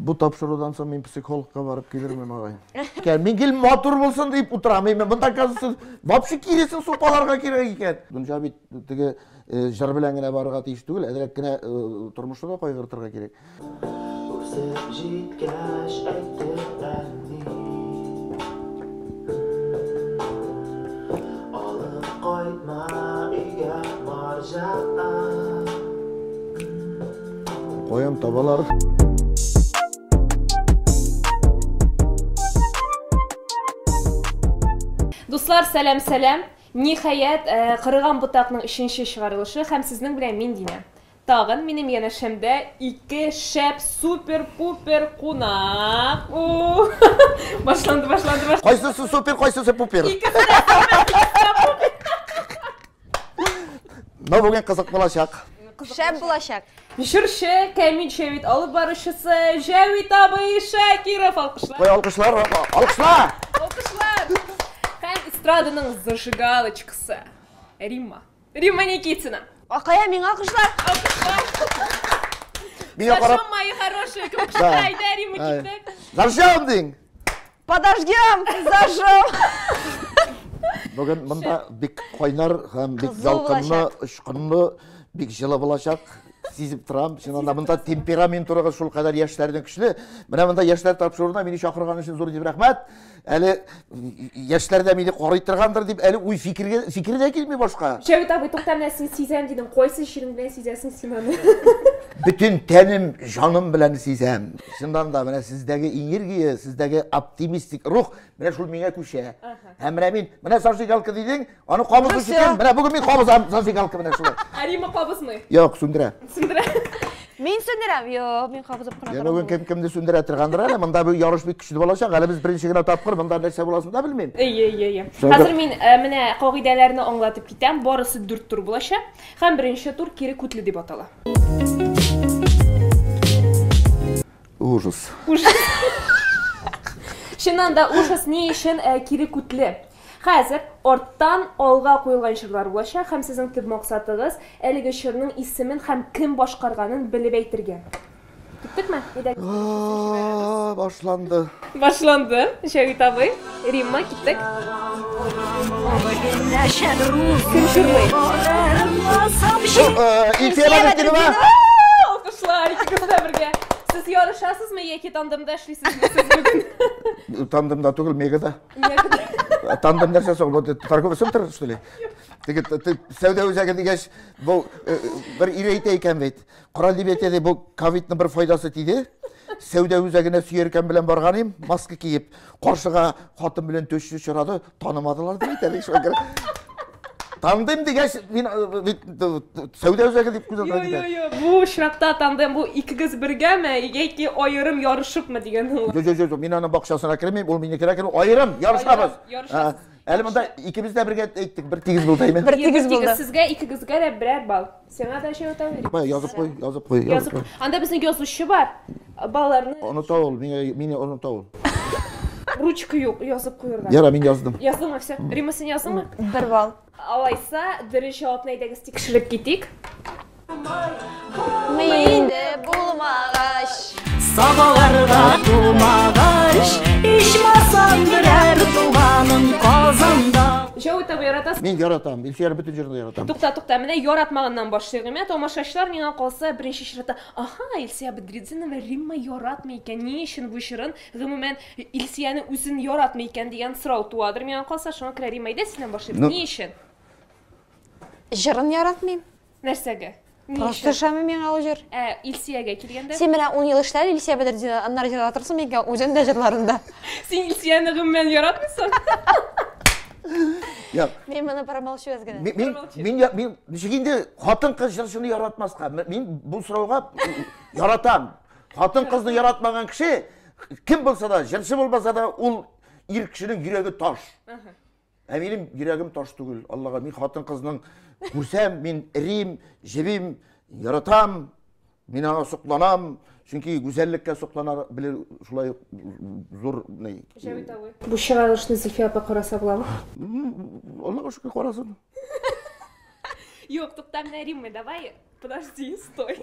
Бу тапшырудан соң мин психологка барып килермен алай. Мин гел матур булсын дип утырам. Мин монда казсыз вообще киресен сукаларга кирәк икән. Дунҗа бит теге э, җыр белән генә барырга тиеш түгел, әзрәк кенә э, тормышны да кайгыртырга кирәк. Үсеп җиткәч әйтеп әни. Алып кайтма өйгә марҗа. Каян табалар? Дуслар, сәлам, сәлам. Ниһаять, э, кырыган бутакның өченче чыгарылышы һәм сезнең белән мин Динә. Тагын минем янәшәмдә ике шәп супер-пупер кунак. Башланды, башланды, башланды. Кайсысы супер, кайсысы пупер? Икесе Ну, бүген кызык булачак. Шәп булачак. Җырчы, Камил Шәвит алып баручысы Җәвит абый Шакиров алкышлар. Кой алкышлар, алкышлар. Алкышлар. Һәм эстраданың зажигалочкасы Римма. Римма Никитина. Акая миңа алкышлар. Алкышлар. Миңа карап. Хорошо, мои хорошие, кем кышта Римма китте. Заржам дин. Подождем! Зажжем! Бүген монда бик кайнар һәм бик ялкынлы, очкынлы, бик җылы булачак. Сизеп торам. Чыннан да монда темперамент урыгы шул кадәр яшьләрнең көчле. Менә монда яшьләр тапшыруына мине чакырган өчен зур дип рәхмәт. Әле яшьләр дә мине карый торгандыр дип әле уй фикергә фикер дә килми башка. Шәвит абый, тукта менә син сизәм дидең. Кайсы чирең белән сизәсең син аны? Бөтен тәнем, җаным белән сизәм. Чыннан да, менә сездәге энергия, сездәге оптимистик рух, менә шул миңа күчә. Һәм менә мин, менә зажигалка дидең, аны кабызу өчен, менә бүген мин кабызам зажигалка менә шулай. Ә Рима кабызмый? Юк, сүндерә. Сүндерә. Мин сүндерәм. Юк, мин кабызып кына торам. Бүген кем кемне сүндерә торгандыр әле, монда бу ярыш бик көчле булачак. Әле без беренче генә тапкыр монда нәрсә буласын да белмим. Әйе, әйе, әйе. Хәзер мин э, менә кагыйдәләрне аңлатып китәм. Барысы дүрт тур булачак. Һәм беренче тур кире күтле дип атала. Ужас. Ужас. Чыннан да ужас ни өчен э, кире күтле? Хәзер арттан алга куелган чырлар булачак һәм сезнең төп максатыгыз әлеге чырның исемен һәм кем башкарганын белеп әйтергә. Киттек ме? Aa, башланды. Башланды. Шәвит абый, Римма, киттек. Кем шурлый? Илфия Бәдетдинова. Алкышлар, икегез дә бергә. Сез ярышасызмы яки тандемда эшлисезме сез бүген? Тандемда түгел, мегада. Тандем нәрсә соң? Бу торговый центр, что ли? Теге сәүдә үзәге дигәч, бу бер ире әйтә икән бит. Корал дип әйтә ди, бу ковидның бер файдасы тиде. Сәүдә үзәгенә сөяркәм белән барган идем, маска киеп, каршыга хатын белән төшү очрады, танымадылар дип әйтә шуңа Тандем дигәч, мин сәүдә үзәге дип күзәтә. Юк, юк, юк. Бу очракта тандем бу икегез бергәме яки аерым ярышыпмы дигән ул. Юк, юк, юк. Мин аның бакчасына кермим, ул мине керә керү аерым ярышабыз. Ярышабыз. Әле монда икебез дә бергә әйттек, бер тигез булды әйме? Бер тигез булды. Сезгә икегезгә дә берәр балл. Сиңа да җәү тәүлек. Бай, язып куй, язып куй, язып куй. Анда безнең язучы бар. Балаларны. Оныта ул, миңа мине оныта ул. Ручка юк, язып куярга. Яра, мин яздым. Яздыңмы все? Рима, син яздыңмы? Бер балл. Алайса, дөрес җавапны әйдәгез тикшереп китик. Мине булмагач, сабаларга тумагач, ичмасам берәр туганым Казанда. Чоу итеп яратасың? Мин яратам, Илсөяр бөтен җырын да яратам. Тукта, тукта, менә яратмаганнан башлыйк. Ә тамашачылар миңа калса, беренче чиратта, Аһа, Илсөя Бәдретдинова Римма яратмый икән, ни өчен бу җырын, гомумән, Илсөяне үзен яратмый икән дигән сорау туадыр миңа калса, шуңа күрә, Римма, әйдә синнән башлыйбыз, ни өчен? Ну. Җырын яратмыйм. Нәрсәгә? Просто төшәме миңа ул җыр? Ә Илсиягә килгәндә? Син менә 10 ел эшләр Илсия Бәдретдина, аннары җырлар торсын микән үзең дә җырларында. Син Илсияне гомумән яратмыйсың? Як. Мин моны промолчу аз генә. Мин мин мин ничек инде хатын-кыз җырчыны яратмаска? Мин бу сорауга яратам. Хатын-кызны яратмаган кеше кем булса да, җырчы булмаса да, ул ир кешенең йөрәге таш. Ә минем йөрәгем таш түгел, Аллага. Мин хатын-кызның күрсәм, мин рим, җебим, яратам, мин аңа сокланам. Чөнки гүзәллеккә соклана белер шулай зур ни. Җәвит абый. Бу чыгарылышны Зөлфия апа караса буламы? Аллага шөкер, карасын. Юк, тукта, менә Римма, давай Подожди, стой.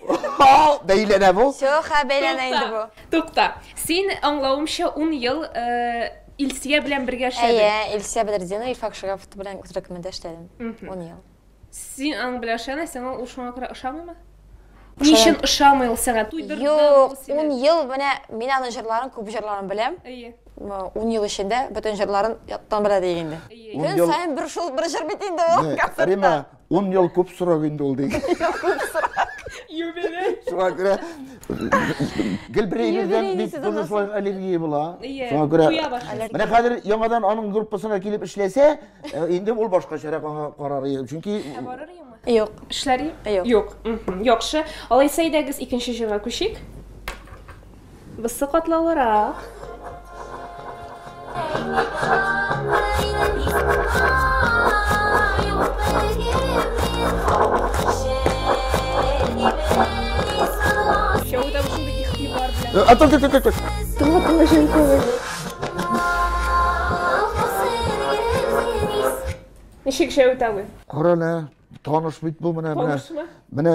Бәйләнә бу. Все, ха, бәйләнә инде бу. Тукта. Син аңлавымча 10 ел э, Илсия белән бергә эшләдең. Әйе, Илсия Бәдердина, Илфак Шарафов белән төркемендә эшләдем. 10 ел. Син аның белән ышана, сиңа ул шуңа күрә ошамыймы? Ни өчен ошамый ул сиңа? Туйдырды Юк, 10 ел менә мин аның җырларын, күп җырларын беләм. Әйе. 10 ел эчендә бөтен җырларын яттан белә диген инде. Көн саен бер шул бер җыр бит инде ул. Рима, Ун ел күп срок инде ул диген. Юбилей. Шуңа күрә гел бер егердән бит тоже шулай аллергия була. Шуңа күрә менә хәзер яңадан аның группасына килеп эшләсә, э, инде ул башкачарак аңа карар. Чөнки Юк. Эшләри? Юк. Юк. Яхшы. Алайса идегез икенче җырга күчик. Бусы катлаулырак. А то, то, то, то, то. Тыла, тыла, жен, тыла. Ничек шәү тавы? Корана, Таныш бит бу менә менә. Танышмы? Менә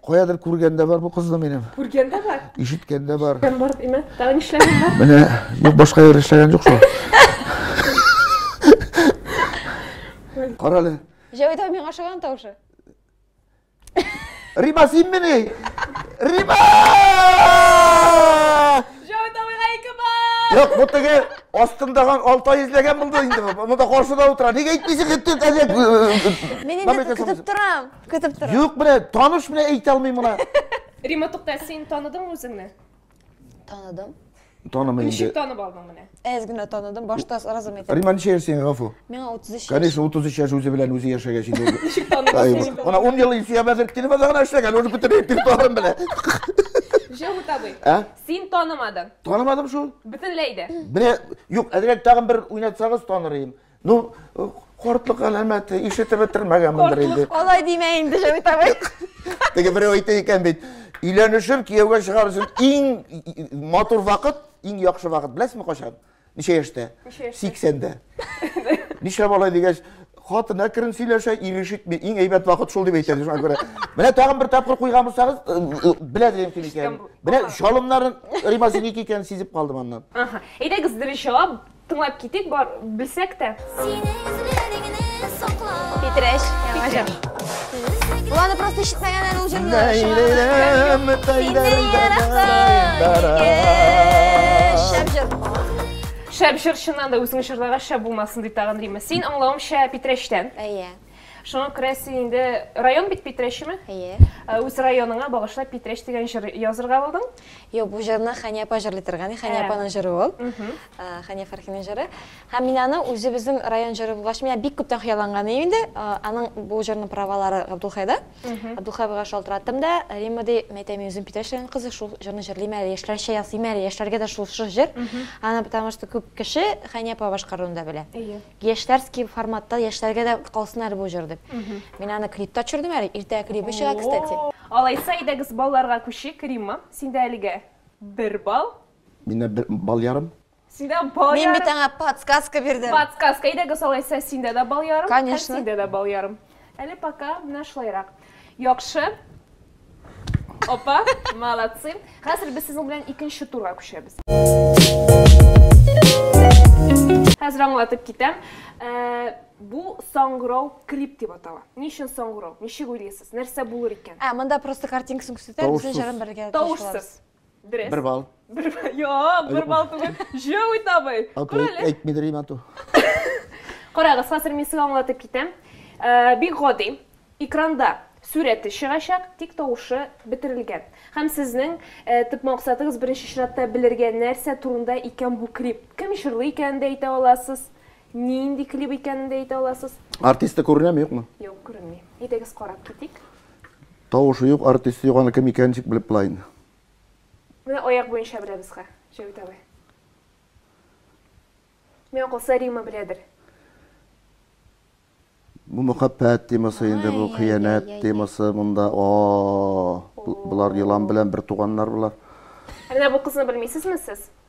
каядыр күргәндә бар бу кызны минем. Күргәндә бар. Ишеткәндә бар. Ишеткән бар димә. Тагы нишләгән бар? Менә юк башка яр эшләгән юк шул. Кара әле. Җәвит абый миңа ошаган тавышы. Рима син мени? Рима! Юк, бу теге астындаган алтай эзләгән булды инде. Монда каршыда утыра. Нигә әйтмисең инде әзәк? Мин инде көтеп торам. Көтеп торам. Юк, менә таныш менә әйтә алмыйм моны. Рима тукта, син таныдың үзеңне? Таныдым. Танымый инде. Ничек танып алдың менә? Әз генә таныдым, башта сразу мен әйтәм. Рима ничә яшь сиңа гафу? Миңа 33 яшь. Конечно, 33 яшь үзе белән үзе яшәгәч инде. Ничек таныдың? Ана 10 ел Илсөя хәзер киномада гына эшләгән, уже бөтен репертуарын белә. Җәүһүт абый. Ә? Син танымадың. Танымадым шул. Бөтенләй дә. Менә, юк, әзрәк тагын бер уйнатсагыз таныр идем. Ну, кортлык галәмәте, ишетеп бетермәгәнмендер инде. Алай димә инде, Җәмит абый. Теге берәү әйтә икән бит, өйләнешер, кияүгә чыгар өчен иң матур вакыт, иң яхшы вакыт. Беләсезме кайчан? Ничә яшьтә? 80-дә. Нишләп алай дигәч, хатын әкрен сөйләшә, ир ишетми. Иң әйбәт вакыт шул дип әйтәләр. Шуңа күрә. Менә тагын бер тапкыр куйган булсагыз, э, э, белә дигән килеш икән. Менә шалымнарын Римасиники икән сизеп калдым аннан. Әйдәгез, беренче җавап Тыңлап китик, бар, белсәк тә. Синең эзләреңне сакла. Питрәч, яңа җыр. Ул аны просто ишетмәгән әле ул җырны. Синнән яракта. Шәп җырчыннан да үзең җырлаган шәп булмасын ди тагын Рима. Син аңлавымча Питрәчтән. Әйе. Шуңа күрә син инде район бит Питрәчеме? Әйе. Ә, үз районыңа багышлап Питрәч дигән җыр язырга булдың? Юк, бу җырны Хәния апа җырлый торган. Хәния апаның җыры ул. Хәния Фәрхинең җыры. Һәм мин аны үзебезнең район җыры булгач, миңа бик күптән хыялланган иде инде. Аның бу җырның правалары Габдулхайда. Габдулхай абыйга шалтыраттым да, Римма ди, мәйтәм, мин үзем Питрәч районы кызы, шул җырны җырлыйм әле, яшьләрчә ясыйм әле, яшьләргә дә шушы җыр. Аны потому что күп кеше Хәния апа башкаруын да белә. Әйе. Яшьләрский форматта яшьләргә дә калсын әле бу җыр дип. Мин аны клипта төшердем әле, иртәгә клибы чыга, кстати. Алайса, әйдәгез балларга күчик, Римма, синдә әлегә бер балл. Миндә бер балл ярым. Синдә балл ярым. Мин бит аңа подсказка бирдем. Подсказка, әйдәгез алайса, синдә дә балл ярым, һәм синдә дә балл ярым. Әле пока менә шулайрак. Яхшы. Опа, молодцы. Хәзер без сезнең белән икенче турга күчәбез. Хәзер аңлатып китәм. Э, бу саңгырау крип дип атала. Ни өчен саңгырау? Ничек уйлыйсыз? Нәрсә булыр икән? Ә, монда просто картинкасын күрсәтә, Тавышсыз. безнең җырын белергә тиеш булабыз. Тавышсыз. Дөрес. Бер балл. Бер балл. Юк, бер балл түгел. Җәүи табый. Күр әле. Әйтми дөрим ату. Карагыз, хәзер мин сезгә аңлатып китәм. Э, бик гади. Экранда сурәте чыгачак, тик тавышы бетерелгән. Һәм сезнең э, төп максатыгыз беренче чиратта белергә нәрсә турында икән бу клип. Кем җырлый икәнен дә әйтә аласыз. Нинди клип икәнен дә әйтә аласыз. Артисты күренәме, юкмы? Юк, күренми. Әйдәгез карап китик. Тавышы юк артист юк аны кем икәнен ничек белеп була инде. Менә аяк буенча беләбез ха, Җәвит абый. Миңа калса Рима беләдер. Бу мөхәббәт темасы инде бу, хыянәт темасы монда, о-о-о, болар елан белән бер туганнар болар. Ә менә бу кызны белмисезме сез?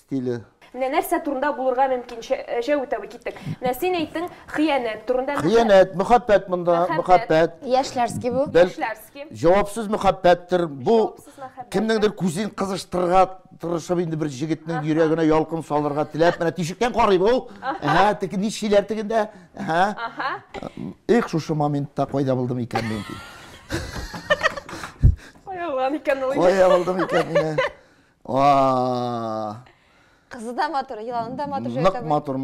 стиле. Менә нәрсә турында булырга мөмкин Җәү үтәве, киттек. Менә син әйттең, хыянәт турында. Хыянәт, мөхәббәт монда, мөхәббәт. Яшьләрский бу. Яшьләрский. Җавапсыз мөхәббәттер. Бу кемнеңдер күзен кызыштырырга тырышып инде бер җегетнең йөрәгенә ялкын салырга теләп, менә тишектән карый бу. Әһә, теге ничиләр тегендә. Әһә. Аһа. Их, шушы моментта кайда булдым икән мин? Кая булган икән ул? Кая булдым икән мин? Кызы да матур, еланы да матур. Нык матур.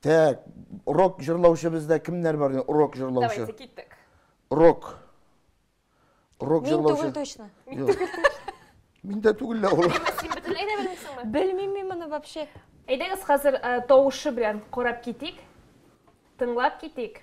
Тәк, урок жырлаучы бездә кемнәр бар? Урок жырлаучы. Давайте, киттек. Урок. Урок жырлаучы. Мин түгел точно. Мин түгел точно. Мин дә түгел лә ул. Син бөтенләй дә белмисеңме? Белмим мин моны вообще. Әйдәгез хәзер э, тавышы белән карап китик. Тыңлап китик.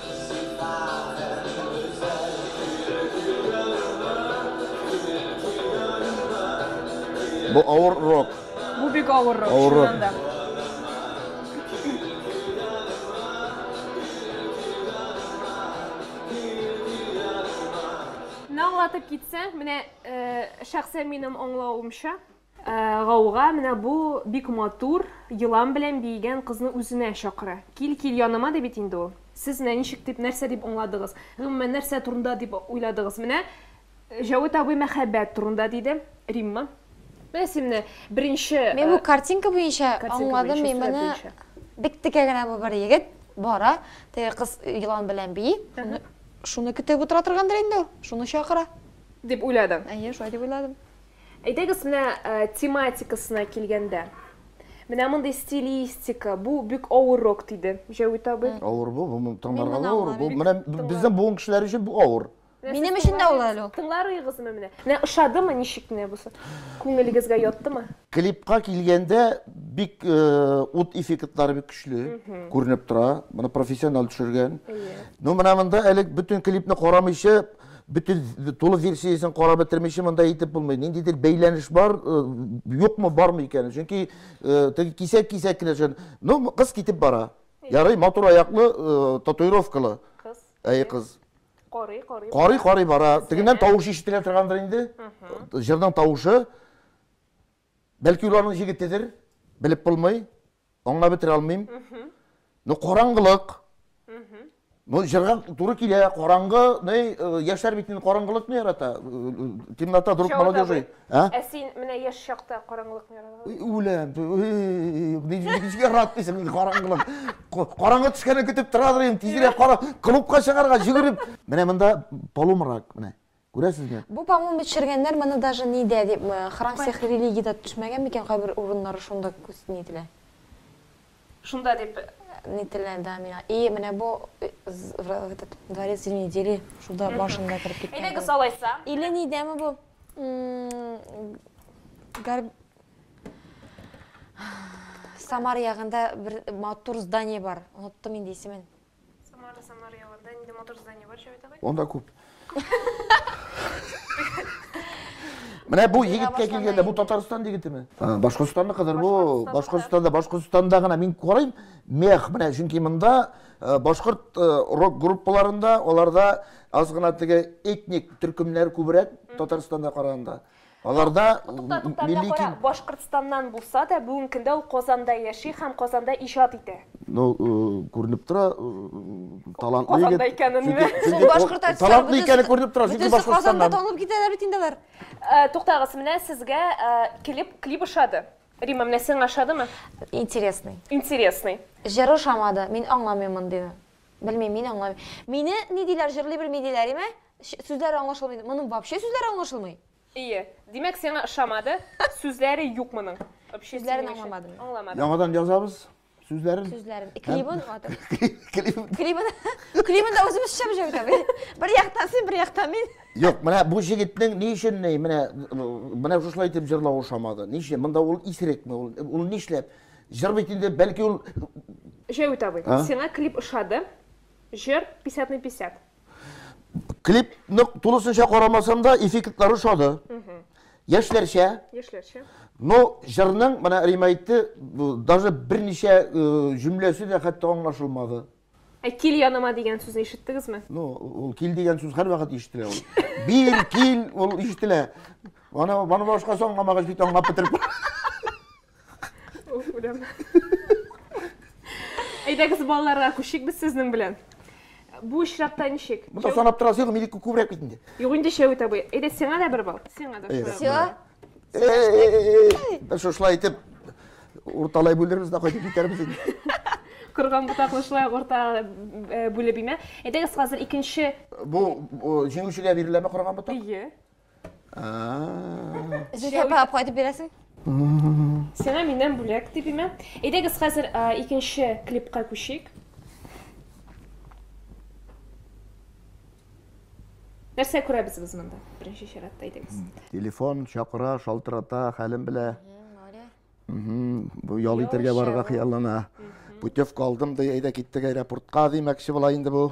Бу авыр рок. Бу бик авыр рок, Авыр рок. чыннан да. Менә аңлатып китсәң, менә э, шәхсән минем аңлавымча, Ә, гауга, менә бу бик матур, елан белән биегән кызны үзенә чакыра. Кил, кил яныма, ди бит инде ул. Сез менә ничек дип, нәрсә дип аңладыгыз? Гомумән, нәрсә турында дип уйладыгыз? Менә Җәвит абый мәхәббәт турында диде. Римма? Менә син менә беренче... Мин бу картинка буенча аңладым, мин моны. Бик текә генә бу бер егет бара, теге кыз елан белән бии, шуны көтеп утыра торгандыр инде ул, шуны чакыра. Дип уйладың? Әйе, шулай дип уйладым. Әйдәгез менә тематикасына килгәндә. Менә мондый стилистика, бу бик авыррок, диде Җәвит абый. Авыр бу, бу тыңларга да авыр. Бу менә безнең буын кешеләре өчен бу авыр. Минем өчен дә авыр әле ул. Тыңларыгызмы менә? Менә ошадымы, ничек менә бусы? Күңелегезгә яттымы? Клипка килгәндә, бик ут эффектлары бик көчле күренеп тора. Моны профессионал төшергән. Ну менә монда әле бөтен клипны карамыйча, бөтен тулы версиясен карап бетермичә монда әйтеп булмый. Ниндидер бәйләнеш бар, юкмы, бармы икән? Чөнки теге кисәк-кисәк кенә җан. Ну, кыз китеп бара. Ярый, матур аяклы, татуировкалы. Кыз. Әй кыз. Карый, карый. Карый, карый бара. Тегеннән тавыш ишетелә торгандыр инде. Җырның тавышы. Бәлки ул аның җегетедер, белеп булмый, аңлап бетерә алмыйм. Ну, караңгылык. Ну, җырга туры килә, караңгы, ни, э, яшьләр бит инде караңгылыкны ярата. Э, э, темнота друг молодежи. Ә? Ә син менә яшь чакта караңгылыкны яратасың? Үләм. Ни ничек яратмыйсың инде караңгылык? Караңгы төшкәнне көтеп торадыр инде, тизрәк кара клубка чыгарга, йөгереп. Менә монда полумрак, менә. Күрәсезме? Бу по-моему төшергәннәр моны даже нидә дип храм всех религий да төшмәгән микән кайбер урыннары шунда күз ни ителә. Шунда дип нителә да миңа. И менә бу этот дворец зимней недели шунда башында кереп киткән. Әйдәгез алайса. Или нидәме бу? Гар Самар ягында бер матур здание бар. Оныттым инде исемен. Самара, Самара ягында инде матур здание бар, Җәвит абый. Анда күп. Менә бу егеткә килгәндә, бу Татарстан егетеме? Башкортстанны кызыр бу. Башкортстанда, Башкортстанда гына мин карыйм, мех, менә чөнки монда э, башкорт э, рок группаларында, аларда аз гына теге этник төркемнәр күбрәк Татарстанда караганда. Аларда милли ким... Башкортстаннан булса да, бүгенге көндә ул Казанда яши һәм Казанда иҗат итә. Ну, күренеп тора, талантлы егет. Казанда икәнен ме? Сул башкорт артистлары. Талантлы икәне күренеп тора, чөнки Башкортстаннан. Казанда танылып китәләр бит инде алар. Туктагыз, менә сезгә клип, клип ошады. Рима, менә сиңа ошадымы? Интересный. Интересный. Җыр ошамады, мин аңламыйм мондыйны. Белмим, мин аңламыйм. Мине ни диләр, җырлый белми диләр, име? Ш, Сүзләре аңлашылмый дип, моның вообще сүзләре аңлашылмый? Ие. Димәк, сиңа ошамады, сүзләре юк моның. Вообще Сүзләрен синең өчен- аңламадым мин. Аңламадың. Яңадан язабыз сүзләрен. Сүзләрен. Ә клибын атып. Клип. Клибын, клибын да үзебез төшәбез җәү итә. Бер- Бер яктан син, бер яктан мин. Юк, менә бу җегетнең ни өчен ни, менә менә шушылай итеп җырлау ошамады. Ни өчен? Монда ул исерекме? Ул, ул нишләп? Җыр бит инде, бәлки ул Җәвит абый, А? сиңа клип ошады, җыр 50 на 50. Клип нык тулысынча карамасам да, эффектлары ошады. Яшьләрчә. Яшьләрчә. Но җырның, менә Рима әйтте, даже берничә э, җөмләсе дә хәтта аңлашылмады. Ә кил яныма дигән сүзне ишеттегезме? Ну, ул кил дигән сүз һәрвакыт ишетелә ул. Бир, кил, ул ишетелә. Аны, аны башкасы аңламагач бит аңлап бетереп. Уф, үләм. Әйдәгез балаларга күшик без сезнең белән. Бу очракта ничек? Монда санап торасы юк, минеке күбрәк бит инде. Юк инде Шәвит абый. Әйдә сиңа да бер бал. Сиңа да шулай. Все. Без шушылай итеп урталай бүлербез дә кайтып китәрбез инде. Кырган ботаклы шулай урта э, бүлеп имә. Әйдәгез хәзер икенче Бу җиңүчегә биреләме корган ботак? Ие. Зөлфия апа, кайтып бирәсең? Сиңа миннән бүләк дип имә. Әйдәгез хәзер а, икенче клипка күчик. Нәрсә күрәбез без монда? Беренче чиратта әйдәгез. Телефон чакыра, шалтырата, хәлен белә. Мгм, Бу ял итәргә Яучы барырга бу. хыяллана. Путевка алдым ди, әйдә киттек аэропортка димәкче була инде бу.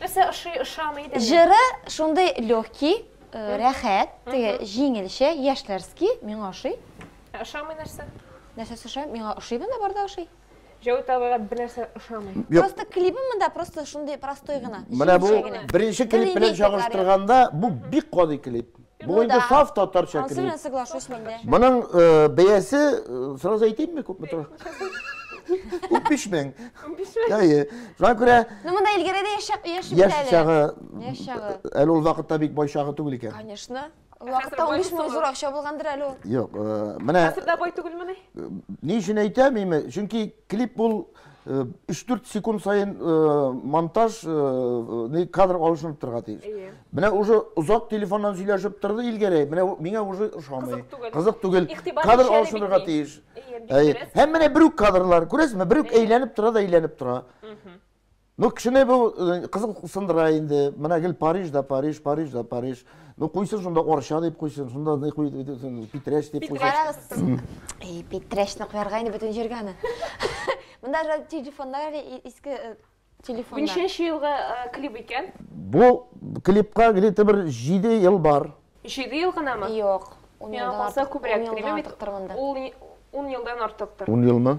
Нәрсә ошый, ошамый дә. Җыры шундый легкий, э, рәхәт, теге җиңелчә, яшьләрский, миңа ошый. Ә Ошамый нәрсә? Нәрсәсе ошый? Миңа ошый монда барда ошый. Җәүит абыйга бер нәрсә ошамый. Юк. Просто клибы монда просто шундый простой гына. Менә бу җиңелчә генә. беренче клип белән Религия клары. чагыштырганда, бу бик гади клип. Бу Ну инде да. саф татарча Ансы кри. белән соглашусь мин дә. Моның э, бәясе, э, сразу әйтимме, күпме тора? 15 мең. Әйе. Шуңа күрә Ну монда Илгәрә дә яшәп яши бит яшь әле. чагы, Яшь чагы. әле ул вакытта бик бай чагы түгел икән. Конечно. Ул Вакытта бай 15 мең булсын зур ул. акча булгандыр әле ул. Юк, э, менә Хәзер дә бай түгелмени? ни өчен әйтәм, име? Чөнки клип ул 3-4 секунд сайын монтаж кадр алышынып торга тиеш. Менә уже озак телефоннан сөйләшеп торды Илгәрәй, менә миңа уже ошамый. Кызык түгел. Кадр алышынырга тиеш. Һәм менә бер үк кадрлар, күрәсезме, бер үк әйләнеп тора да әйләнеп тора. Ну, кешене бу э, кызыл сындыра инде. Менә гел Париж да Париж, Париж да Париж. Ну, куйсын шунда Орча дип куйсын, шунда ни куй Питрәч дип куйсын. Карагыз. И, Питрәчне куярга инде бөтен җиргә аны. Монда же телефоннар иске э, телефоннар. Ничәнче елга э, клип икән? Бу клипка где-то бер 7 ел бар. 7 ел гынамы? Юк. Миңа калса күбрәк клип бит. Ул 10 елдан артыктыр. 10 елмы?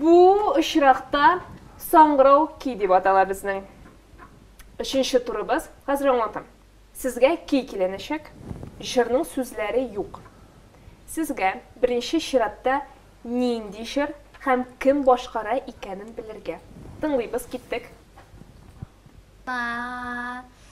Бу очракта саңгырау ки дип атала безнең. Өченче турыбыз, хәзер аңлатам. Сезгә ки киленәчәк, җырның сүзләре юк. Сезгә беренче чиратта нинди җыр һәм кем башкара икәнен белергә. Тыңлыйбыз, киттек. Ба.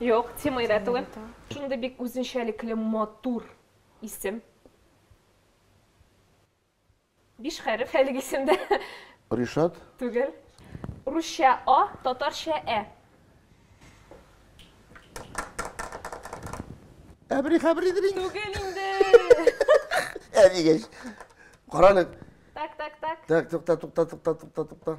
Юк, Тимый да түгел. Шундый бик үзенчәлекле матур исем. Биш хәреф әлеге исемдә. Ришат? Түгел. Русча А, татарча Ә. Әбри хәбридер инде. Түгел инде. Ә дигәч. Каралык. Так, так, так. Так, тукта, тукта, тукта, тукта, тукта.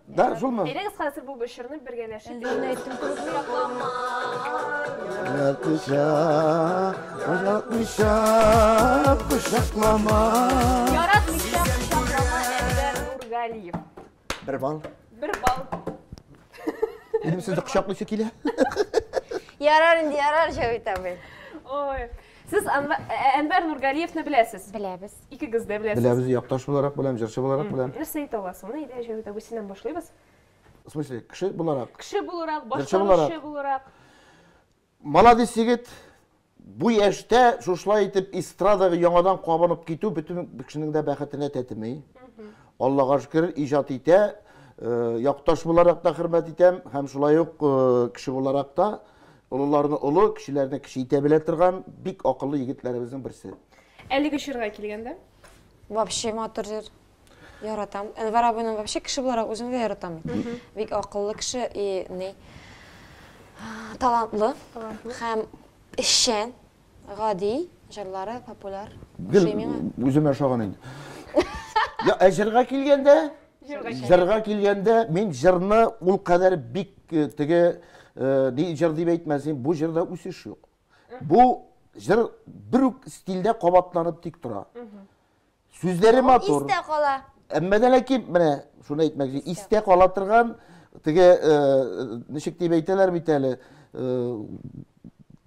Да, шулмы? Әйдәгез хәзер бу бешерне бергәләшеп. Лена әйтте. Ятыша, ятыша, кушаклама. Яратмыйча кушаклама Әйдәр Нургалиев. Бер бал. Бер бал. Минем сезне кочаклыйсы килә. Ярар инде, ярар, Җавит абый. Ой. Сез Әнвәр Нургалиевны беләсез? Беләбез. Икегез дә беләсез. Беләбез, якташ буларак беләм, җырчы буларак беләм. Нәрсә әйтә аласың? Менә әйдә, Җәвит абый, синнән башлыйбыз. В смысле, кеше буларак? Кеше буларак, башкаручы буларак. Маладис егет, бу яшьтә шушылай итеп эстрадага яңадан кабынып китү бөтен кешенең дә бәхетенә тәтеми. Аллага шөкер, иҗат итә. Якташ буларак та хөрмәт итәм һәм шулай ук кеше буларак та олыларны олы, кешеләрне кече итә белә торган бик акыллы егетләребезнең берсе. Әлеге чорга килгәндә? Вообще матур җыр. Яратам. Әнвәр абыйның вообще кеше буларак үзен дә яратам. Бик акыллы кеше и ни талантлы һәм эшчән, гади, җырлары популяр. Гел үземә ошаган инде. Я, ә җырга килгәндә? Җырга килгәндә мин җырны ул кадәр бик э, теге э, ди җыр дип әйтмәсен, бу җырда үсеш юк. Бу җыр бер үк стильдә кабатланып тик тора. Сүзләре матур. Истә кала. Әмма дә ләкин менә шуны әйтмәк, истә кала торган теге э, ничек дип әйтәләр бит әле, э,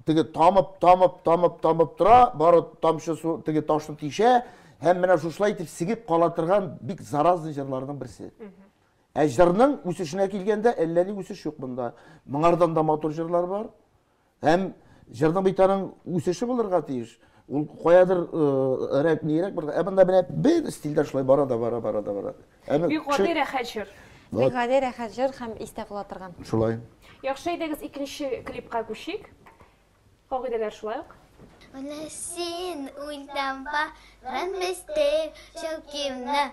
теге тамып, тамып, тамып, тамып тора, бары тамчы су теге ташны тишә һәм менә шушылай итеп сигеп кала торган бик заразный җырларның берсе. Ә җырның үсешенә килгәндә әллә ни үсеш юк монда. Моңардан да матур җырлар бар. Һәм җырның бит аның үсеше булырга тиеш. Ул каядыр э, рәк нирәк бер. Ә монда менә бер стильдә шулай бара да бара бара да бара. Әме Бик гади рәхәт җыр. Бик гади рәхәт җыр һәм истә кала торган. Шулай. Яхшы әйдәгез икенче клипка күчик. Кагыйдәләр шулай ук. Менә син үлдән барган мистер Чулкивны.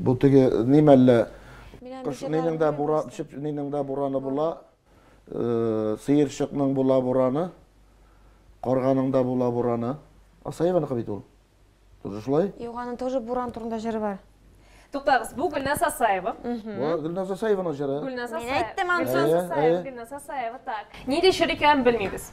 Бу теге ни мәллә? Кыш нинең дә буран, чеп нинең дә бураны була. Э, сыерчыкның була бураны. Карганың да була бураны. Асаеваныкы бит ул. Тоже шулай? Юк, аның тоже буран турында җыры бар. Туктагыз, бу Гөлназ Асаева. Бу Гөлназ Асаеваның җыры. Гөлназ Асаева. Мин әйттем аны. Гөлназ Асаева, Гөлназ Асаева, так. Нинди чир икәнен белмибез.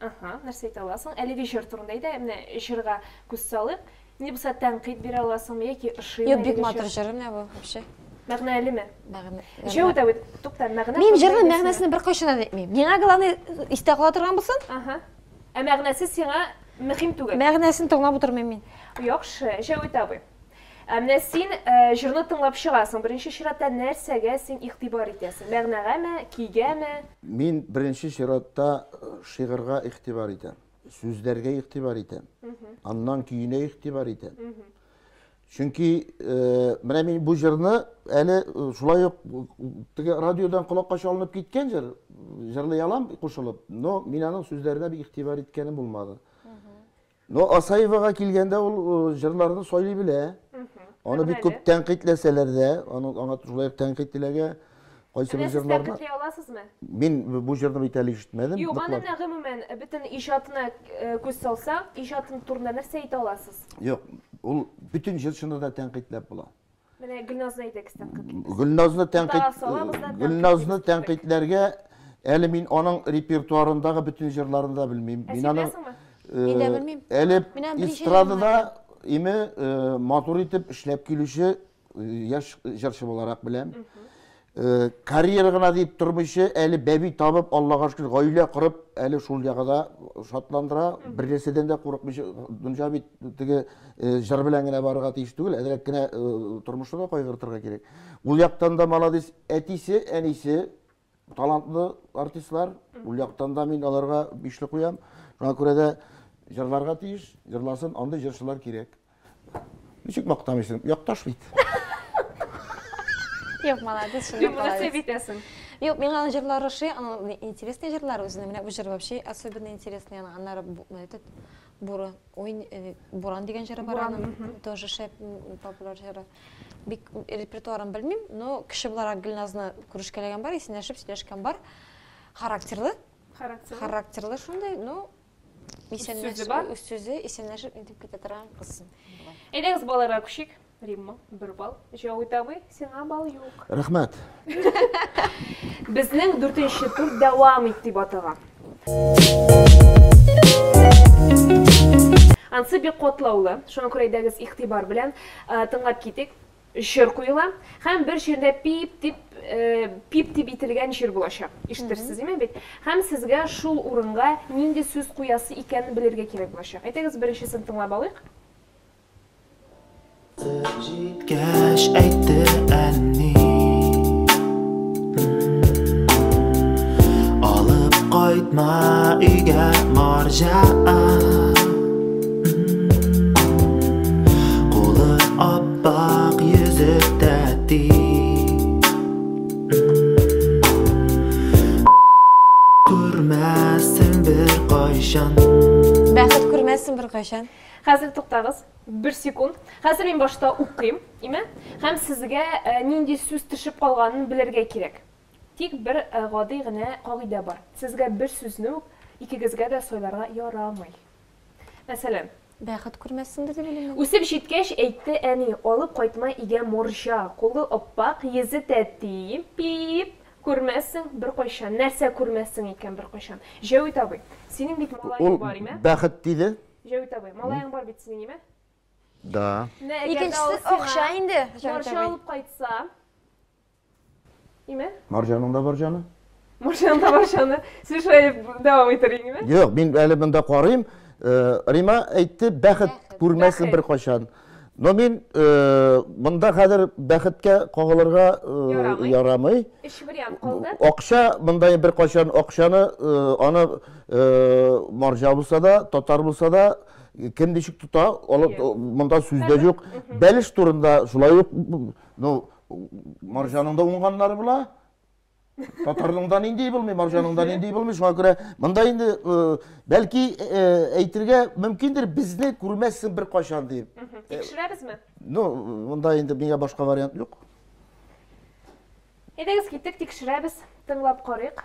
Ага, нәрсә әйтә аласың? Әлеге җыр турында әйдә, менә җырга күз салыйк. Ни булса тәнкыйть бирә аласыңмы яки ошыймы? Юк, бик матур җыр, менә бу вообще. Мәгънәлеме? Мәгънә. Җәү дә үт. Тукта, мәгънә. Мин җырның мәгънәсен бер кайчан да әйтмим. Миңа главный истә кала торган булсын. Ага. Ә мәгънәсе сиңа мөһим түгел. Мәгънәсен тыңлап утырмыйм мин. Яхшы, Җәү дә үт. Ә менә син э, җырны тыңлап чыгасың. Беренче чиратта нәрсәгә син игътибар итәсең? Мәгънәгәме, кигәме? Мин беренче чиратта э, шигырьгә игътибар итәм, сүзләргә игътибар итәм, аннан көенә игътибар итәм. Чөнки э, менә мин бу җырны әле э, шулай ук теге радиодан колакка чалынып киткән җыр, җырлый алам кушылып, но мин аның сүзләренә бик игътибар иткәнем булмады. Но Асаевага килгәндә, ул җырларны сайлый белә. Аны бик күп тәнкыйтьләсәләр дә, аны аңа шулай ук тәнкыйть теләгә кайсы бер җырларны. Сез тәнкыйтьли аласызмы? Мин бу җырны бит әле ишетмәдем. Юк, аны менә гомумән бөтен иҗатына күз салсак, иҗаты турында нәрсә әйтә аласыз? Юк, ул бөтен җырчыны да тәнкыйтьләп була. Менә Гөлназны әйдәгез тәнкыйть итегез. Гөлназны тәнкыйть Гөлназны тәнкыйтьләргә әле мин аның репертуарындагы бөтен җырларын да белмим. Мин аны Инде белмим. Әле эстрадада име матур итеп эшләп килүче яшь җырчы буларак беләм. Э, карьера гына дип тормыйча, әле бәби табып, Аллага шөкер, гаилә корып, әле шул ягы да шатландыра. Бер нәрсәдән дә курыкмыйча, дөнья бит теге э, җыр белән генә барырга тиеш түгел, әзрәк кенә э, тормышны да кайгыртырга кирәк. Ул яктан да молодец, әтисе, әнисе талантлы артистлар. Ул яктан да мин аларга бишле куям. Шуңа күрә дә җырларга тиеш, җырласын, андый җырчылар кирәк. Ничек мактамыйсың? Якташ бит. Юк, молодец, шундый молодец. Юк, битәсең. Юк, миңа аның җырлары ошый, аның интересный җырлары үзенә. Менә бу җыр вообще особенно интересный, аның аннары этот Буры, ой, э, Буран дигән җыры бар аның, тоже шәп популяр җыры. Бик репертуарын белмим, но кеше буларак Гөлназны күрешкәләгән бар, исәнләшеп сөйләшкән бар. Характерлы. Характерлы. Характерлы шундый, ну, Исәнләшү сүзе бар. Үз сүзе исәнләшеп интеп китә торган кыз. Әйдәгез балаларга күчик. Римма, бер бал. Җавый табый, сиңа бал юк. Рәхмәт. Безнең дүртенче тур дәвам ит дип атыга. Ансы бик котлаулы, шуңа күрә әйдәгез игътибар белән тыңлап китик. Чир куела һәм бер чирдә пип дип пип дип ителгән чир булачак. Ишетерсез име бит? Һәм сезгә шул урынга нинди сүз куясы икәнен белергә кирәк булачак. Әйтегез, беренчесен тыңлап алыйк. Кайтып җиткәч әйтте әни Алып кайтма өйгә марҗа Ак йөзек тәти Күрмәссең бер кайчан Бәхет күрмәссең бер кайчан Хәзер туктагыз, бер секунд. Хәзер мин башта укыйм, име? Һәм сезгә э, нинди сүз төшеп калганын белергә кирәк. Тик бер э, гади генә кагыйдә бар. Сезгә бер сүзне үк икегезгә дә сойларга ярамый. Мәсәлән. Бәхет күрмәссеңдер дип уйлыйм мин. Үсеп җиткәч, әйтте әни, алып кайтма игә морҗа, кулы аппак, йөзе тәти, пиип, күрмәссең беркайчан. Нәрсә күрмәссең икән беркайчан? Җәвит абый, синең бит малаең бар, име? Ул бәхет диде. Җәвит абый, малаең бар бит синең, име? Да. Менә әгәр дә ул сиңа морҗа алып кайтса. Ниме? Марҗаның да бар җаны. Марҗаның да бар җаны. Сез шулай дәвам итер идеңме? Юк, мин әле монда карыйм. Э, Рима әйтте, бәхет күрмәсен бер кайчан. Но мин э, монда хәзер бәхеткә кагылырга э, ярамый. Өч вариант калды. Акча монда бер кайчан акчаны аны марҗа булса да, татар булса да, кем ничек тота, монда сүз дә юк. Бәлеш турында шулай ук, ну, Марҗаның да уңганнары була. Татарның да нинди булмый, марҗаның да нинди булмый. Шуңа күрә монда инде бәлки әйтергә мөмкиндер, безне күрмәссең бер кайчан дип. Тикшерәбезме? Ну, монда инде миңа башка вариант юк. Әйдәгез киттек, тикшерәбез, тыңлап карыйк.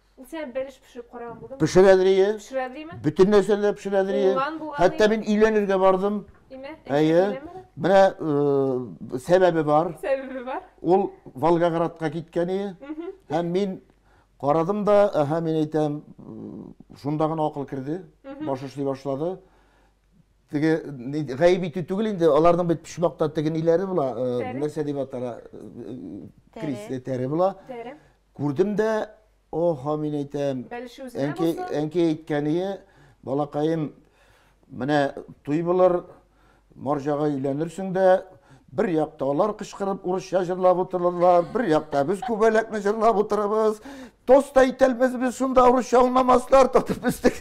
Ул сиңа бәлеш пешереп караган булдымы? Пешерә дрие. Пешерә дриме? Бөтен нәрсәне дә пешерә дрие. Уңган булган Хәтта мин өйләнергә бардым. Имә? Әйе. Менә сәбәбе бар. Сәбәбе бар. Ул Волгоградка киткән ие. Һәм мин карадым да, әһә, мин әйтәм, шунда гына акыл керде, баш эшли башлады. Теге гаеп итү түгел инде, аларның бит почмакта теге ниләре була, нәрсә дип атала, крис тәре була. Тәре. Күрдем дә, о-һо, мин әйтәм. Бәлеше үзенә Әнкәй, булсын. әнкәй әйткәние, балакаем, менә туй булыр, марҗага өйләнерсең дә, бер якта алар кычкырып урысча җырлап утырырлар, бер якта без күбәләкне җырлап утырабыз. Тост та итәлмәс без шунда урысча аңламаслар, татып үстек.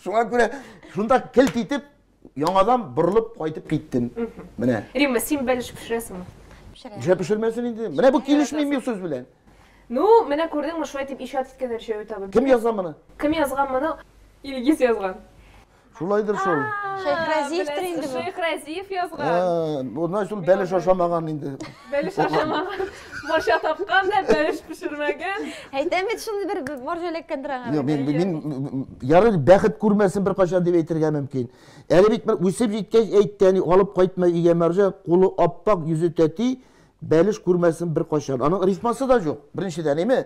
Шуңа күрә шунда келт итеп Яңадан борылып кайтып киттем. Менә. Римма, син бәлеш пешерәсеңме? Пешерәм. Нишләп пешермәсен инде? Менә бу килешми мин сүз белән. Ну, менә күрдеңме, шулай дип иҗат иткән Рҗәвит абый. Кем язган моны? Кем язган моны? Илгиз язган. Шулайдыр шул. Шәйх Разиевтер инде бу. Шәйх Разиев язган. Һа, бу значит ул бәлеш ашамаган инде. Бәлеш ашамаган, морҗа тапкан да, бәлеш пешермәгән. Әйтәм бит, шундый бер морҗа эләккәндер аңа. Юк, мин мин ярый бәхет күрмәсен бер кайчан дип әйтергә мөмкин. Әле бит бер үсеп җиткәч әйтте, әни, алып кайтма өйгә морҗа, кулы аппак, йөзе тәти, бәлеш күрмәсен бер кайчан. Аның рифмасы да юк. Беренчедән, әйме?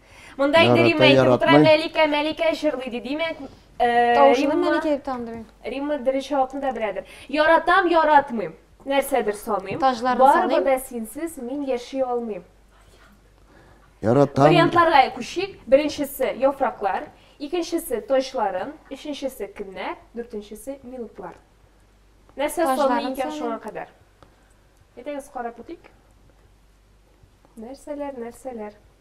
Монда инде Ярата, Римма ишетеп утыра, яратмый. Мәликә, Мәликә җырлый ди, димәк, э, Тавышын Римма- мәликә дип тандыру. Римма дөрес җавапны да беләдер. Яратам, яратмыйм. Нәрсәдер саныйм. Таҗларын Барыбер саныйм. дә синсез мин яши алмыйм. Яратам. Вариантларга күчик. Беренчесе яфраклар, икенчесе таҗларым, өченчесе көннәр, дүртенчесе минутлар. Нәрсә Таҗларын саный икән саныйм. шуңа кадәр? Әйдәгез карап үтик. Нәрсәләр, нәрсәләр?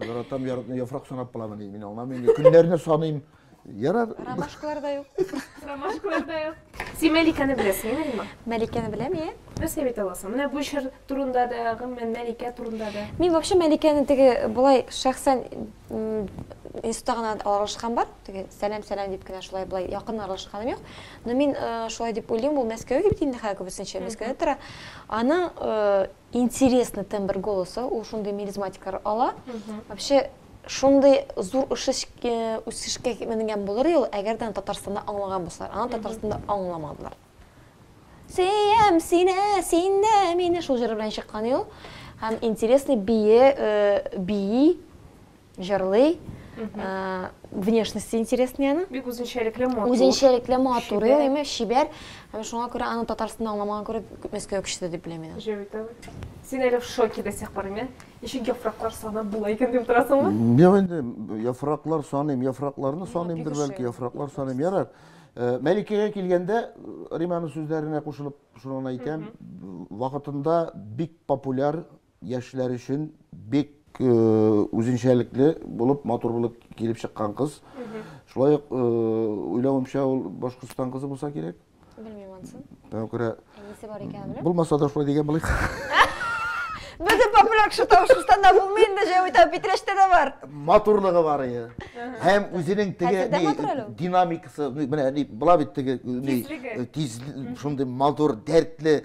Яратам, яратам, яфрак санап буламы ни? Мин аңламыйм. Көннәрне саныйм. Ярар. Ромашкалар да юк. Ромашкалар да юк. Син Мәликәне беләсең, Римма? Мәликәне беләм, иә. Нәрсә бит аласың? Менә бу чир турында да, гомумән Мәликә турында да. Мин вообще Мәликәне теге болай шәхсән институтта гына аралашкан бар. Теге сәлам сәлам дип кенә шулай болай якын аралашканым юк. Но мин э, шулай дип уйлыйм, ул Мәскәүгә бит инде хәзер күбесенчә Мәскәүдә тора. Аның э, Интересный тембр голоса, ул шундый мелизматикалар ала. Вообще шундый зур үсешкә менгән булыр ел, әгәр дә Татарстанда аңлаган булсалар. Аны Татарстанда аңламадылар. Сөям сине, син дә мине шул җыры белән чыккан ел. Һәм интересный бии, бии. Җырлый. Внешности интересный аны. Бик үзенчәлекле матур. Үзенчәлекле матур, әйме, чибәр. Һәм шуңа күрә аны Татарстанда аңламаган күрә күп мәскәү кешесе дип беләм мин. Җәвит абый. Син әле в шоке до сих пор, әйме? Ничек яфраклар санап була икән дип торасыңмы? Юк инде, яфраклар саныйм, яфракларны саныймдыр бәлки, яфраклар саныйм. Ярар. Э, Мәликәгә килгәндә, Риманың сүзләренә кушылып, шуны гына әйтәм, вакытында бик популяр Яшьләр өчен бик үзенчәлекле булып, матур булып килеп чыккан кыз. Шулай ук уйлавымча ул Башкортстан кызы булса кирәк. Белмим ансын. Миңа күрә Әнисе бар икән беләм. Булмаса да шулай дигән булыйк. Бездә популяр кеше Башкортстанда булмый инде, җәүитә Питрәчтә дә бар. Матурлыгы бар иде. Һәм үзенең теге динамикасы, менә була бит теге тиз, шундый матур, дәртле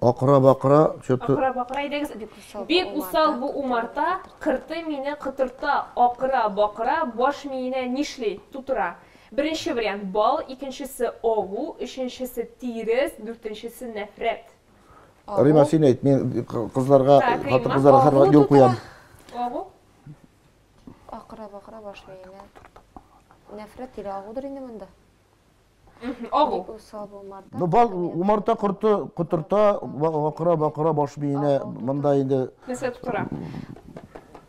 Акыра-бакыра, чыты. Акыра-бакыра әйдәгез, бик усал. Бик усал бу умарта, кыртый мине, кытырта, акыра-бакыра, баш миенә нишли, тутыра. Беренче вариант, бал, икенчесе, агу, өченчесе, тирес, дүртенчесе, нәфрәт. Агу. Римма, син әйт, мин кызларга, хатын-кызларга һәрвакыт юл куям. Агу. Акыра-бакыра, баш миенә. Нәфрәт тиле агудыр инде монда. Агу. Усал булмады. Ну, бал, умарта корты котырта, акыра бакыра баш биенә, монда инде. Нәрсә тутыра?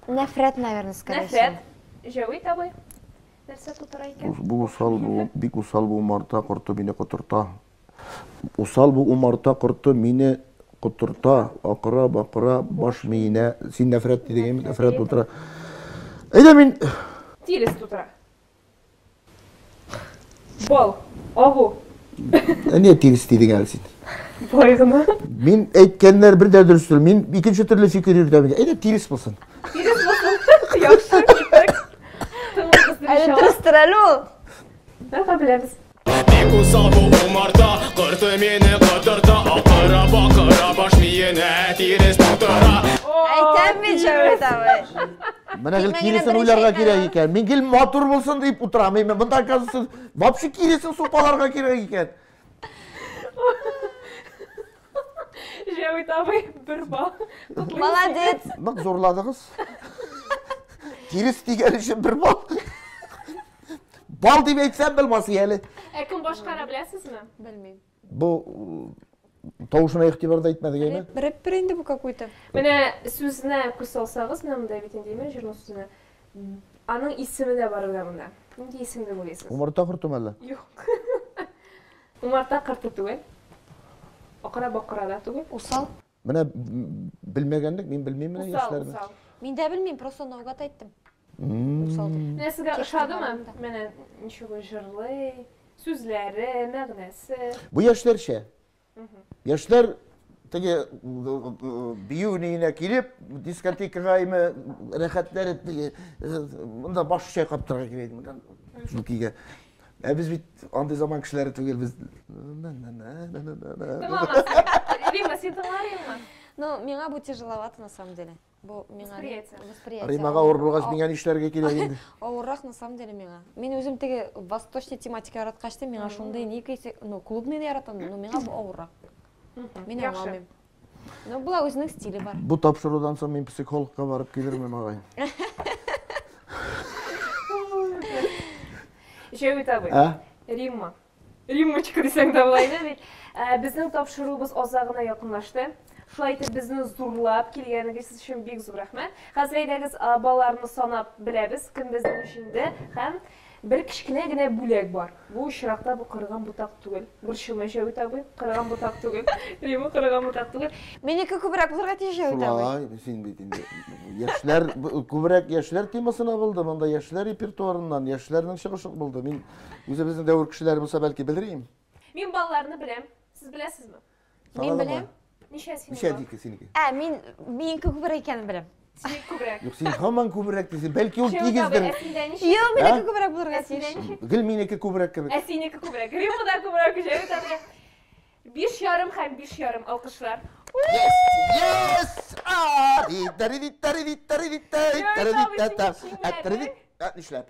Нәфрәт, наверное, скорее Нәфрәт. Җәвит абый. Нәрсә тутыра икән? Бу усал бу, бик усал бу умарта корты мине котырта. Усал бу умарта корты мине котырта, акыра бакыра баш миенә. Син нәфрәт дидегем, нәфрәт тутыра. Әйдә мин Тирес тутыра. Бал, агу. Әне тирис дидең әле син. Бай гына. Мин әйткәннәр бер дә дөрес түгел. Мин икенче төрле фикер йөртәм. Әйдә тирис булсын. Тирис булсын. Яхшы. Әле дөрестер әле ул. Бәхәбләбез. Менә гел киресен уйларга кирәк икән. Мин гел матур булсын дип утырам. Мин монда казсыз. Вообще киресен супаларга кирәк икән. Җәвит абый бер бал. Молодец. Нык зурладыгыз. Тирес дигән өчен бер бал. Бал дип әйтсәм белмас әле. Ә кем башкара беләсезме? Белмим. Бу тавышына игътибар да итмәдек әйме? Рэпер инде бу какой-то. Менә сүзне күз салсагыз, менә монда бит инде әйме җырның сүзенә. Аның исеме дә бар әле монда. Нинди исем дип уйлыйсыз? Умарта кортымы әллә? Юк. Умарта кырты түгел. Акыра бакыра да түгел. Усал. Менә белмәгәнлек, мин белмим менә яшьләрне. Усал, усал. Мин дә белмим, просто наугад әйттем. Усал дип. Менә сезгә ошадымы? Менә ничего җырлый, сүзләре, мәгънәсе. Бу яшьләрчә. Яшьләр теге бию ниенә килеп, дискотекага име рәхәтләнеп теге монда баш чайкап торырга кирәк. Шул кигә. Ә без бит андый заман кешеләре түгел, без... Рима, син тыңларыңмы? Ну, миңа бу тяжеловато, на самом деле. Бу миңа... Восприятие. Римага ауыр булгач, миңа нишләргә кирәк инде? Авыррак, на самом деле, миңа. Мин үзем теге восточный тематика яраткач, миңа шундый ни ну, клубный яратам, но миңа бу авыррак. Мин аңламыйм. Ну, була үзінің стилі бар. Бу тапшырудан соң мин психологка барып килермен агай. Җәй үтә бу. Ә? Римма. Риммочка дисәң дә була иде бит. Ә, Безнең тапшыруыбыз азагына якынлашты. Шулай итеп безне зурлап килгәнегез өчен бик зур рәхмәт. Хәзер әйдәгез а, балаларны санап беләбез, кем безнең җиңде һәм Бер кечкенә генә бүләк бар. Бу очракта бу кырыган ботак түгел. Борчылма, Җәвит абый, кырыган ботак түгел. Әйе, бу кырыган ботак түгел. Минеке күбрәк булырга тиеш, Җәвит абый. Шулай, син бит инде яшьләр, күбрәк яшьләр темасына булды, монда яшьләр репертуарыннан, яшьләрнең чыгышы булды. Мин үзебезнең дәвер кешеләре булса, бәлки белер идем. Мин балаларны беләм. Сез беләсезме? Мин беләм. Ничә синең? Ничә дике синеке? Ә, мин мин күбрәк икәнен беләм. Синең күбрәк. Юк, син һаман күбрәк дисең. Бәлки ул тигездер. Юк, минеке күбрәк булырга тиеш. Гел минеке күбрәк кебек. Ә синеке күбрәк. Римма да күбрәк җәй тәмле. Биш ярым һәм биш ярым алкышлар. Yes! Yes! Нишләп?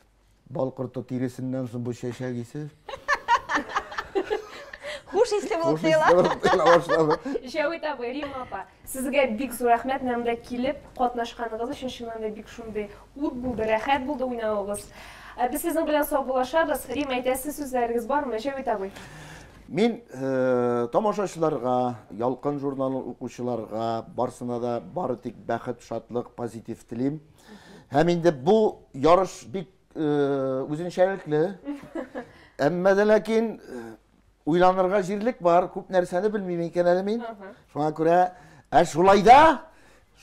Бал корты тиресеннән соң бу чәчәк исе. Хуш исле булып тоела. Җәвит абый, Рим апа, сезгә бик зур рәхмәт менә монда килеп катнашканыгыз өчен. Чыннан да бик шундый ут булды, рәхәт булды уйнавыгыз. Ә без сезнең белән саубуллашабыз. Рим, әйтәсе сүзләрегез бармы, Җәвит абый? Мин э, тамашачыларга, Ялкын журналын укучыларга барсына да бары тик бәхет, шатлык, позитив телим. Һәм инде бу ярыш бик үзенчәлекле. Әмма дә ләкин уйланырга җирлек бар, күп нәрсәне белмим икән әле мин. Шуңа күрә, ә шулай да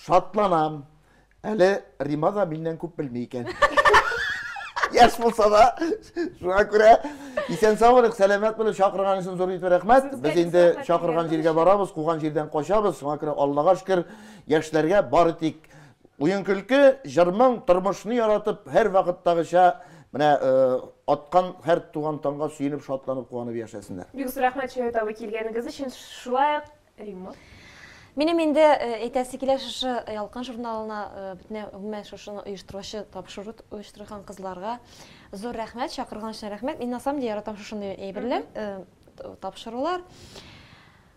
шатланам. Әле Рима да миннән күп белми икән. Яш булса да, шуңа күрә исән саулык, сәламәт булып чакырган өчен зур итеп рәхмәт. Без инде чакырган җиргә барабыз, куган җирдән качабыз. Шуңа күрә Аллага шөкер, яшьләргә бары тик Уен-көлке, җыр-моң, тормышны яратып, һәрвакыттагыча, менә аткан һәр туган таңга сөенеп, шатланып, куанып яшәсеннәр. Бик зур рәхмәт, Чая табы, килгәнегез өчен, шулай ук Римма. Минем инде әйтәсе килә шушы Ялкын журналына, бөтенләй гомумән шушыны оештыручы, тапшыру оештырган кызларга зур рәхмәт, чакырган өчен рәхмәт. Мин на самом деле яратам шушындый әйберләр, тапшырулар.